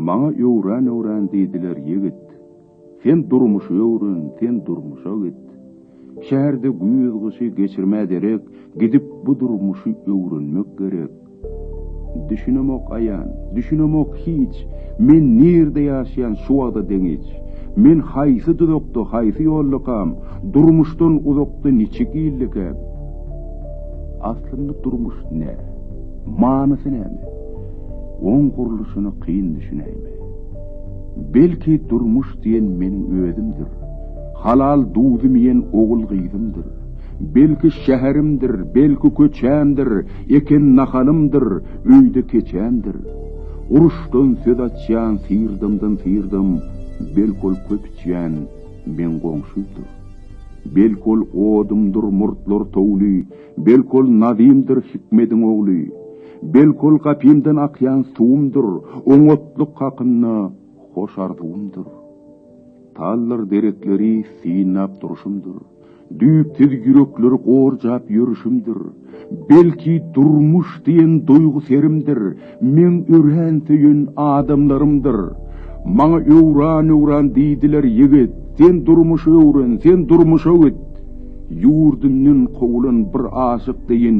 Maňa öwren öwren diýdiler ýigit. Sen durmuşy öwren, sen durmuşa git. Şäherde güýz-gyşy geçirmä derek, gidip bu durmuşy öwrenmek gerek. Düşünemok aýan, düşünemok hiç, Men nirde ýaşaýan şu wagda deňiç. Men haýsy duzakda, haýsy ýoldakam, Durmuşdan uzakda niçik ýyldakäm? Aslynda durmuş nä? Manysy näme? Oň gurluşyna kyn düşünäýme. Belki durmuş diýen meniň özümdir, Halal duzym iýen ogul-gyzymdyr, Belki şäherimdir, belki köçämdir, Eken nahalymdyr, öýde keçämdir. Uruşdan söz açýan syrdamdan syrdam, belki ol köp içýän meň goňşymdyr. Belki ol odumdyr murtlar towly, belki ol Nazymdyr Hikmediň ogly. Belki ol gapymdan akýan suwumdyr, oňatlyk hakynda hoş arzuwymdyr. Tallar derekleri synlap durşumdyr. Düýpsiz ýürekleri gorjap ýörüşimdir. Belki, durmuş diýen duýgy serimdir, meň örän söýen adamlarymdyr. Maňa öwran-öwran diýdiler, Ýigit, sen durmuşy öwren, sen durmuşa git. Ýurdundan kowulan bir aşyk deýin.